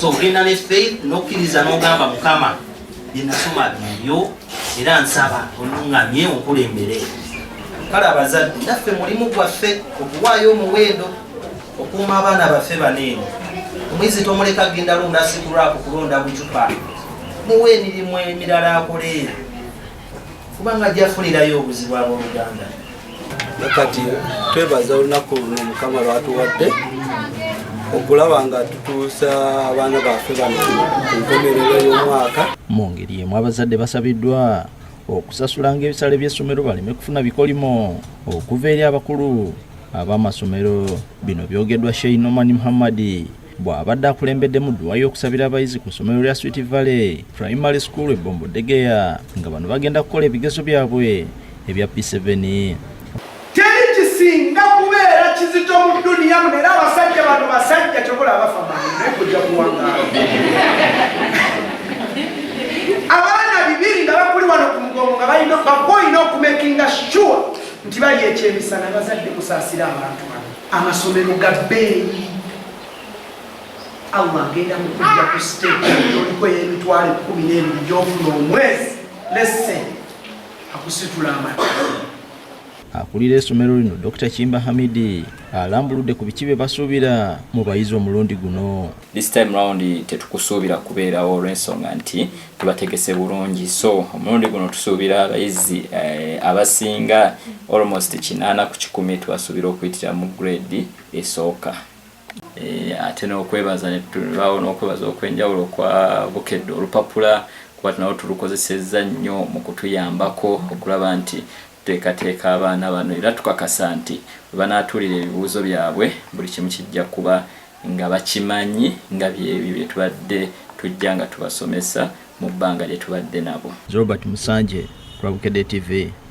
so ogenda ne faith nokkiriza nogamba mukama byenasoma byebyo era nsaba oluŋŋamye onkulembere kale abazadde naffe mulimu gwaffe okuwaayo omuwendo okuuma abaana baffe baneeno omwizi tomuleka genda londa sikulwaku kulonda bucupa muwa emirimu emirala akoleera kubanga ajja funirayo obuzibu abooluganda kati twebaza olunaku luno mukama lwatuwadde okulaba nga tutuusa abaana baffe bano ku nkomerero y'omwaka mu ngeri emu abazadde basabiddwa okusasulanga ebisale by'essomero baleme kufuna bikolimo okuva eri abakulu ab'amasomero bino byogeddwa sheinoman muhammadi bw'abadde akulembeddemu dduwa y'okusabira abayizi ku ssomero lya Sweet Valley Primary School e Bombo Degeya nga bano bagenda kukola ebigezo byabwe ebya P7. Teri kisinga kubeera kizito mu duniya muno era abasajja bano basajja kyokola abafa naye kujja kuwangaala abaana bibiri nga bakuli wano ku mugongo nga balina bakoyina okumekinga sure nti bali ekyemisana bazadde kusaasira abantu bano amasomero ga bbeeyi allah agenda kukujja ku state oliko eyemitwalo ekumi n'ebiri gyofuna omwezi lese akusitula amata akulira esomero lino dr kimba hamidi alambuludde ku biki bye basuubira mu bayizi omulundi guno this time round tetukusuubira kubeerawo olw'ensonga nti tubategese bulungi so omulundi guno tusuubira abayizi eh, abasinga almost kinaana ku kikumi tubasuubira okuyitira mu grade esooka eh, ate n'okwebaza netulibaawo n'okwebaza okwenjawulo kwa bukedde olupapula kuba tunawo tulukozesezza nnyo mu kutuyambako okulaba nti tuteekateeka abaana bano era tukakasa nti bwe banaatuulira ebibuuzo byabwe buli kimu kijja kuba nga bakimanyi nga byebyo bye tubadde tujja nga tubasomesa mu bbanga lye tubadde nabo. Robert Musanje, Rwabukedde TV.